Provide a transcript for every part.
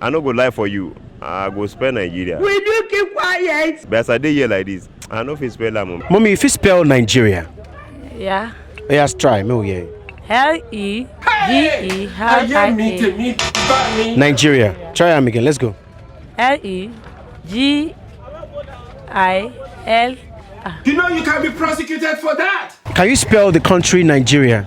I no go lie for you, I go spell Nigeria. Will you keep quiet? But as I dey here like this, I no fit spell am. Mommy, you fit spell Nigeria? Yeah. Yeah, let's try. Me, yeah. L E G E L I A. Nigeria. Try am again. Let's go. L E G I L. You know you can be prosecuted for that. Can you spell the country Nigeria?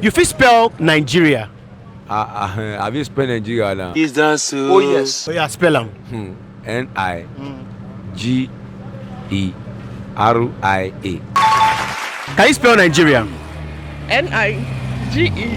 You fit spell Nigeria? Ah, ah, eh, I fit spell Nigeria now. Is that so? Oh yes. Oh yeah, spell am. Hmm. N I G E R I A. Can you spell Nigeria? N I G E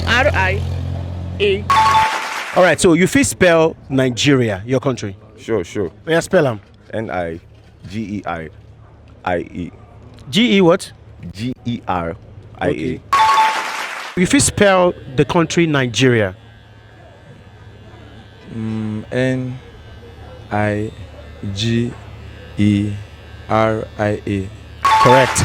R I A. All right, so you fit spell Nigeria, your country. Sure, sure. Oh yeah, spell am. N I G E R I E. G E what? G E R I E. You fit spell the country Nigeria. Mm, N I G E R I A. Correct.